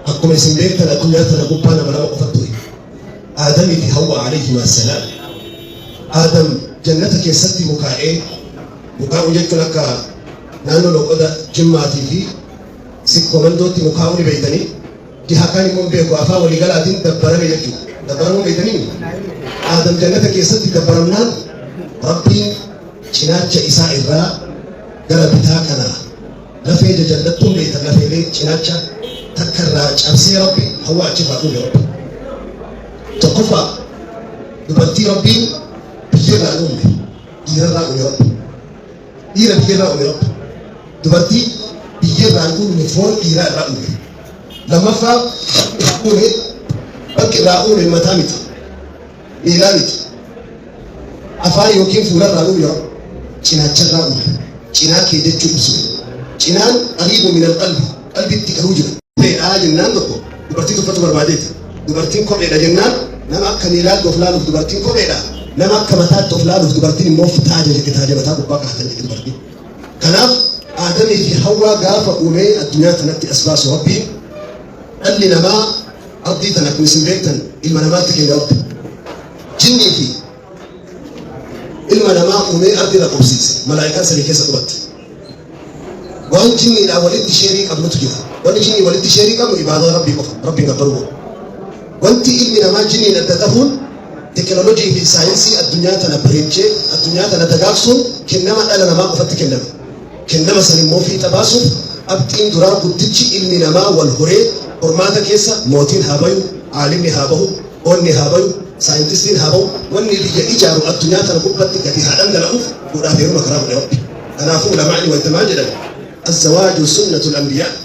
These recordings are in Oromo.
Akkuma isin beektan addunyaa tana gubbaa nama lama qofa ture. Aadamii fi Hawwa alayhima salaam. Aadam jannata keessatti mukaa'ee mukaa'uu jechuun akka naannoo loqoda jimmaatii fi sikkomandootti mukaa'uu ni beektanii jiha kaan immoo beeku afaan waliigalaatiin dabbarame jechuudha. Dabbaramuu beektanii Aadam jannata keessatti dabbaramnaan rabbiin cinaacha isaa irraa gara bitaa kanaa Lafee jajallattuu meeta lafeelee cinaacha takka irraa cabsee rabbi hawaa achi baafuu ya rabbi. Tokkoffaa dubartii rabbiin biyyarraa hin uumne dhiirarraa uume rabbi. Dhiira biyyarraa uume rabbi. Dubartii biyyarraa hin uumne foon dhiiraa irraa uume. Lammaffaa bakki irraa uume bakki irraa uume mataa miti. miilaa miti. Afaan yookiin fuularraa uume yoo cinaacharraa uume. Cinaa kee jechuu ibsu. Cinaan qariibu minal qalbi. Qalbitti garuu jira. Kopheedhaa jennaan tokko dubartii tuffatu barbaadeeti. Dubartiin kopheedha jennaan nama akka miilaatti of laaluuf dubartiin kopheedha. Nama akka mataatti of laaluuf dubartiin immoo fitaa jedhe fitaa jedhe mataa gubbaa kaatan jedhe dubartiin. Kanaaf aadamii fi hawwaa gaafa uumee addunyaa kanatti as baasu rabbiin dhalli namaa Abdii tana kun isin beektan ilma namaatti kenne rabbi. Jinnii fi ilma namaa uumee ardi irra qubsiise. Malaa'ikaan samii keessa qubatti. Waan jinniidhaan walitti sheerii qabnutu jira. Wanni jinnii walitti sheerii qabnu ibaadaa rabbii qofa. Rabbiin gabbaruu qofa. Wanti ilmi namaa jinniin adda tahuun teknolojii fi saayinsii addunyaa tana bareechee addunyaa tana dagaagsuun kennama dhala namaa qofatti kennama. Kennama san immoo fiixa baasuuf qabxiin duraa guddichi ilmi namaa wal horee hormaata keessa mootiin haa bayu, aalimni haa bahu, onni haa bayu, saayintistiin haa bahu, wanni biyya ijaaru addunyaa tana gubbatti gadi haa dhangala'uuf fuudhaaf heeruma karaa godhe Rabbi. Kanaafuu ulamaa'ni wayta maal jedhan? Azzawaaju sunnatul anbiyaa.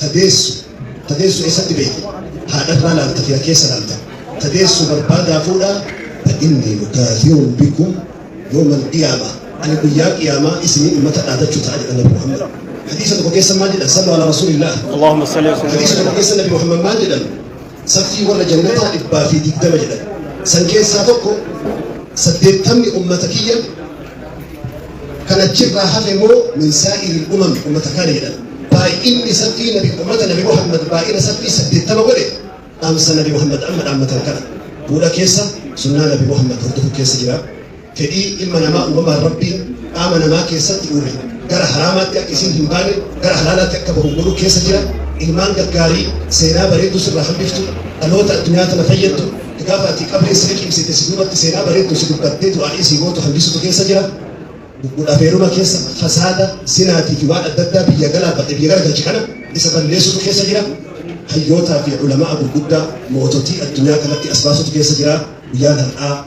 Ta deessu, ta deessu eessatti beeyta? Haadharraa laalta fira keessa laalta. Ta deessu barbaadaa fuudhaa. Fa inni mukaasirun bikum yoomal qiyaama. Ani guyyaa qiyaamaa isinii ummata dhaadachuu ta'a jedha Nabi Muhammad. Hadiisa tokko keessa maal jedha? Sallu ala rasuulillah. Allahumma salli wa sallim. Hadiisa tokko keessa Nabi Muhammad maal jedhan? Saffii warra jannataa dhibbaa fi digdama jedhan. San keessaa tokko saddeettamni ummata kiyya kan achirraa hafe immoo min saa'iri umam ummata kaana jedhan. Baay'inni saffii nabi ummata nabi Muhammad baay'ina saffii saddeettama godhe dhaamsa nabi Muhammad amma dhaammatan kana. Bu'uura keessa sunnaa nabi Muhammad hordofu keessa jira. fedhii ilma namaa uumamaan Rabbiin qaama namaa keessatti uume gara haraamaatti akka isiin hin baane gara halaalaatti akka bahu godhuu keessa jira. Ilmaan gaggaarii seenaa bareedduu sirraa hambiftu dhaloota addunyaa tana fayyaddu gaafa ati qabrii si liqimsite si duubatti seenaa bareedduu si dubbattee du'aa'ii si gootu hambisutu keessa jira. Gudhafeeruma keessa fasaada sinaatii fi waan adda addaa biyya galaafate biyya garagalchi kana isa balleessutu keessa jira. Hayyootaa fi ulamaa gurguddaa moototii addunyaa kanatti as baasutu keessa jira. Guyyaan har'aa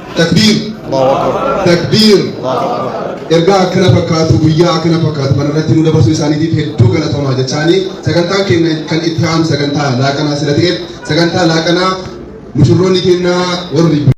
Takbiir! Takbiir! Ergaa akkana fakkaatu guyyaa akkana fakkaatu kana irratti nu dabarsuu isaaniitiif hedduu galatoomaa jechaanii sagantaan keenya kan itti aanu sagantaa laaqanaa sila ta'eef sagantaa laaqanaa mushurroonni keenya warri